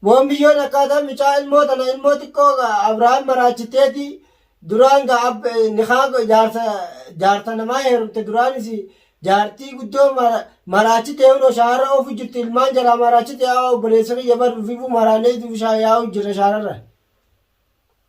Wombiyyoon akkaataa mucaa ilmoo tana ilmoo xiqqoo ga Abrahaam maraachitteeti duraan ga ab nikaa go- jaarsa jaarsa namaa heerumte duraanis jaartii guddoo mara- maraachite hunoo shaarra oofu jirti ilmaan jalaa maraachite yaa obboleessa kiyya bar ufifu maraanee ufi shaa yaa'u jirra shaararra.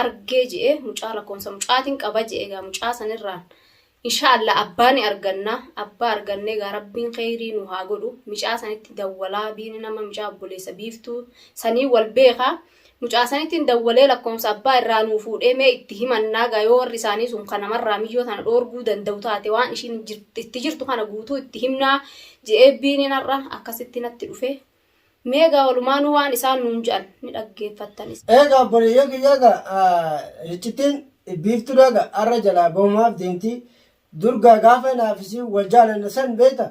argee je'e mucaa lakkoomsa mucaatiin qaba je'e egaa mucaa sanirraan inshaa allah abbaa ni arganna abbaa argannee egaa rabbiin kheyrii nu haa godhu micaa sanitti dawwalaa biini nama micaa obboleessa biiftuu sanii wal beeka mucaa sanittiin dawwalee lakkoomsa abbaa irraa nuu fuudhee mee itti himannaa egaa yoo warri isaanii sun ka namarraa miyyoo tana dhoorguu danda'u taate waan ishiin jir- itti jirtu kana guutuu itti himnaa je'ee biiniin har'a akkasitti natti dhufe Mee egaa walumaanuu waan isaan nuun je'an ni dhaggeeffattan. Eegaa obboleeyyan kiyya egaa riccittiin biiftuun egaa arra jalaa bahumaaf deemti. Dur gaa gaafa naaf isiin wal jaalanne san beeyta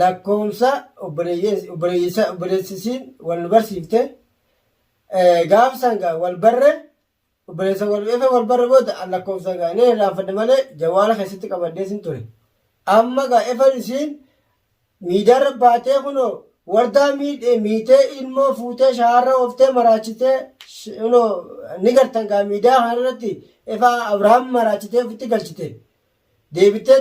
lakkoomsa obboleeyyan obboleessi isiin wal nu barsiifte gaaf san gaa wal barre Obboleessa wal beekee wal barre booda an lakkoofsa gaa ni irraanfadhe malee jawaala keessatti qabadhee sin ture. Amma gaa efan isiin miidaarra baatee kunoo wardaa miidhee miitee ilmoo fuutee shaarra ooftee maraachitee kunoo ni gartan gaa miidaa kanarratti efaa Abrahaam maraachitee ofitti galchite. Deebitee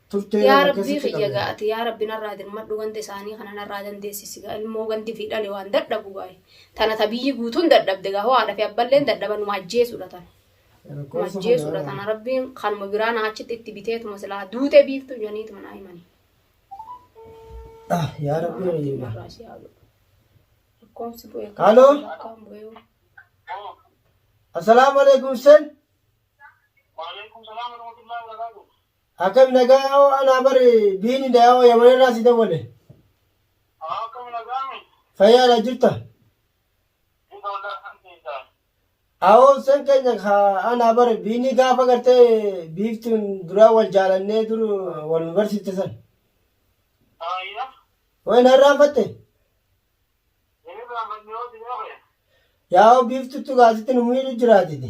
turtee Yaa rabbii akkasitti kiyya qabee. ga'ati yaa rabbi narraa dirmadhu ganda isaanii kana narraa dandeessisi gaa ilmoo gandi fi dhale waan dadhabu gaa tana ta biyyi guutuun dadhabde gaa hoo haadha fi abballeen dadhaba numa ajjeesudha tana numa Lakkoofsa ajjeesudha kanaa. tana rabbiin kanuma biraa naa achitti itti biteetuma silaa duutee biiftu janiituma naa himani. Ah, yaa rabbi Rabbiin kiyya. narraa si haa godhu. Lakkoofsi bu'ee kan Haaloo? lakkaan bu'ee hoo. Assalaamu alaikum sen. Waalaikum salaam warahmatullahi wabarakatuh. Akkam nagaa hoo anaa bar biini dayaa'oo yamanirraa si dawwale. Akkam nagaami? Fayyaadha jirta? Jirta waldaa kan keessaa. Awoo sen keenya ka anaa bar biini gaafa gartee biiftuun duraa wal jaalannee dur wal nu barsiifte san. Faayya. Way na irraanfatte? Inni irraanfanne yoo si beekne. Yaa'oo biiftuutu gaasitti nu miidhu jiraatiti.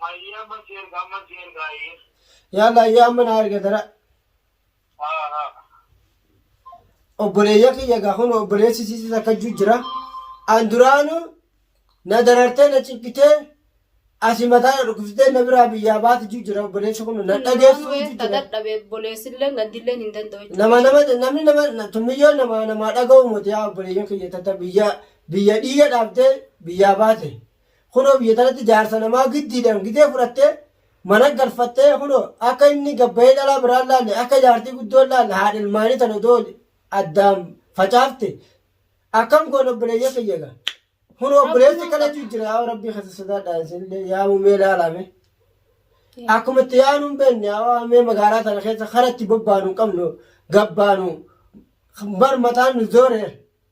Mayyii amma si erga amma si erga ayyee. Yaalla ayyee amma naa erga dara. Obboleeyya kiyya gaa kun obboleessi sisis akka juu jira. An duraanu na darartee na cinqitee asi mataa na dhukkubsitee na biraa biyyaa baati juu jira obboleessi kun na dhageessu juu jira. dadhabe boleessillee gaddilleen hin danda'u jechuudha. Nama nama namni nama na- tummiyyoo nama namaa dhaga'u moti yaa obboleeyyan kiyya tata biyya biyya dhiiga dhaabdee biyyaa baate. Kunoo biyya tanatti jaarsa namaa giddiidhaan gidee fudhattee mana galfattee kunoo akka inni gabbayee dhalaa biraan laalle akka jaartii guddoon laalle haadha ilmaanii tan odoo addaan facaafte akkam goon obboleeyya kiyya egaa kunoo obboleessi kadhachuu jira yaa rabbii keessa sodaadhaa isinillee yaa mumee laalaame akkuma itti yaanu hin beekne yaa waamee magaalaa tana keessa karatti bobbaanu hin qabnu gabbaanu bar mataan nu zoore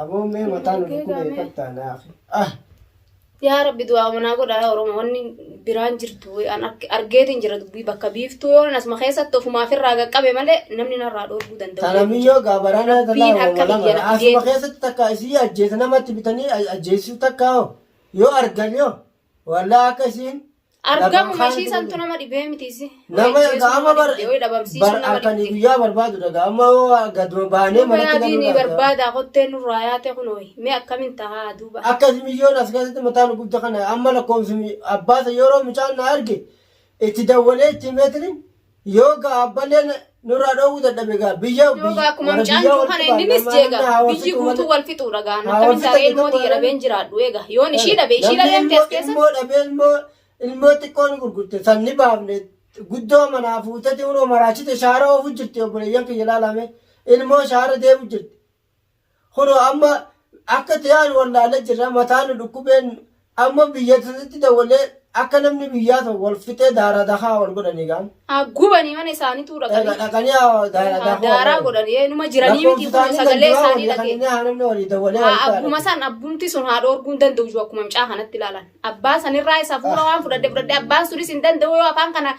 Aboo mee mataa nu dhukkubee kattaa naafi. Ah! Yaa rabbi du'aa manaa godha yaa oromoo wanni biraan jirtu an argeetiin jira dubbii bakka biiftuu yoo asuma keessatti ofumaaf irraa qaqqabe malee namni narraa dhoorguu danda'u. Tanamiyyoo gaabaranaa Rabbiin tanaa harka lama biyya na asuma fidee. keessatti takka isii ajjeesa namatti bitanii ajjeesisuu takka hoo yoo argan yoo wallaa akka isiin Argamu mashii santu nama dhibee mitiisi. Nama gaama bar bar akkanii guyyaa barbaadu dhaga amma hoo gaduma baanee manatti galuu laata. Barbaada kottee nurraa yaate kunooyi. Mee akkamin tahaa duuba. Akkas miyyoon as keessatti mataa nu gubda kana amma lakkoofsi abbaasa yeroo mucaan na arge itti dawwalee itti meetiriin Yoo gaa abbaleen nurraa dhoowwuu dadhabe gaa biyya Yoo gaa akkuma mucaan jiru kana inninis jeega biyyi guutuu wal fixuudha gaa nu akkamiin taaree ilmoo tiyya dhabeen jiraadhu eega yoon ishii dhabe ishii dhabee miti as keessa ilmoo dhabee ilmoo ilmoo xiqqoo ni gurgurte san ni baafne guddoo manaa fuuteti unoo maraachite shaara oofu jirti obboleeyyan kiyya ilaalame ilmoo shaara deemu jirti Kunoo amma akka tiyaan wallaala jirra mataa nu dhukkubeen amma biyya tatitti dawwalee akka namni biyyaa tokko wal fixee daaraa dakaa wal godhanii gaam. Haa gubanii mana isaaniituu Egaa dhaqanii. dhaqanii haa daaraa Haa dakuu daaraa wal godhan. Ee, Numa jiranii miti kun Lakkoofsisaanii sagalee ganduraa isaanii walii kan dhagee. inni haa namni walii dawwalee Haa wal ta'a. abbuma san abbumti sun haa dhoorguu hin danda'u jiru akkuma mucaa kanatti ilaalan. Abbaa sanirraa isa fuula waan fudhadhe fudhadhe abbaan sunis hin danda'u yoo afaan kana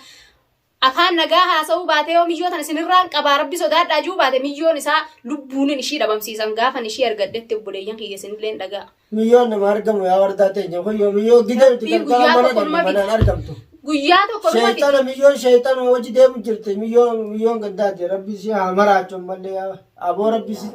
Afaan nagaa haasa'uu baatee yoo miyyoo tana sinirraan qabaa rabbi sodaadhaa juu baate miyyoon isaa lubbuunin ishii dhabamsiisan gaafan ishii argadhetti obboleeyyan kiyya sinilleen dhagaa. Miyyoon nama argamu yaa wardaa teenya kun yoo miyyoo gidee miti Rabbii gargaara guyyaa mana tokko dhabne numa manaan fida. argamtu. Guyyaa tokko numa fida. Sheexana miyyoon sheexanuma wajji deemu jirti miyyoon miyyoon gaddaati rabbi ishee haa maraachu ammallee yaa. Aboo rabbi si.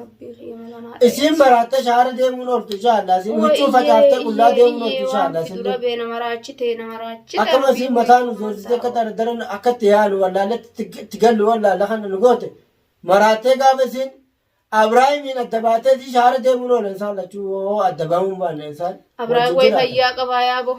Isin baraatta shaara deemuun ooltu inshaallaa. Isin huccuu facaaftee qullaa deemuun ooltu inshaallaa. Isin dura bee nama raachite nama raachite. Akkuma isin mataa nu joorsitee akka daradaran akka itti yaanu wallaalletti itti gallu wallaalla kana nu goote. Maraattee gaafa isin Abiraahimiin adda baatee isin shaara deemuun oola insaan lachuu hoo adda bahuun baanne insaan. Abiraahim way fayyaa qabaa yaaboo.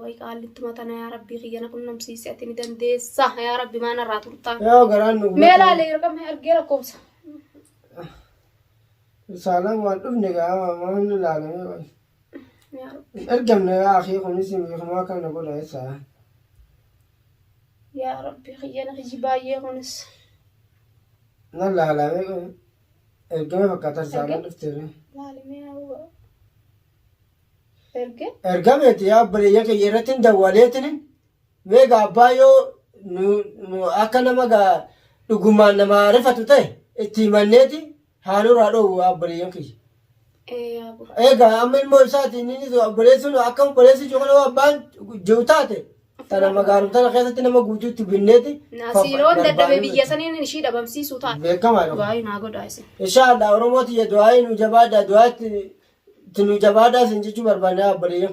Way qaallittuma tana yaa rabbii kiyya na qunnamsiisi ati ni dandeessa yaa rabbi maana irraa turtaa. Yaa garaan nu Mee laale erga mee argee lakkoofsa. Saalaan waan dhufne gaama maaf inni laalamee waan. Yaa rabbi. Hin ergamne yaa akii kunis beekumaa akka na godha eessa. Yaa rabbi kiyya na kiyyi baay'ee kunis. Na laalamee kun ergamee fakkaata saalaan dhufteera. Laale mee yaa Erge. ergameeti yaa obboleeyya kiyya irratti hin dawwaleetini mee gaa abbaa yoo nu- nu- akka nama gaa dhugumaan nama rifatu ta'e itti himanneeti haa nurraa dhoowwu yaa obboleeyyan kiyya. Ee yaa bura. Egaa amma ilmoo isaatiin inni obboleessuun akka obboleessi jiru kana yoo abbaan jiru taate Tana magaalota tana keessatti nama guutuutti binneeti. Siiroo dadhabee biyya saniin ishii dhabamsiisuu ta'a. Beekamaa dha. Du'aayi naa godhaa isin. Inshaallah Oromoo tiyya du'aayi nu jabaadhaa du'aatti nu jabaadhaa isin jechuu barbaanne abboleeyyan.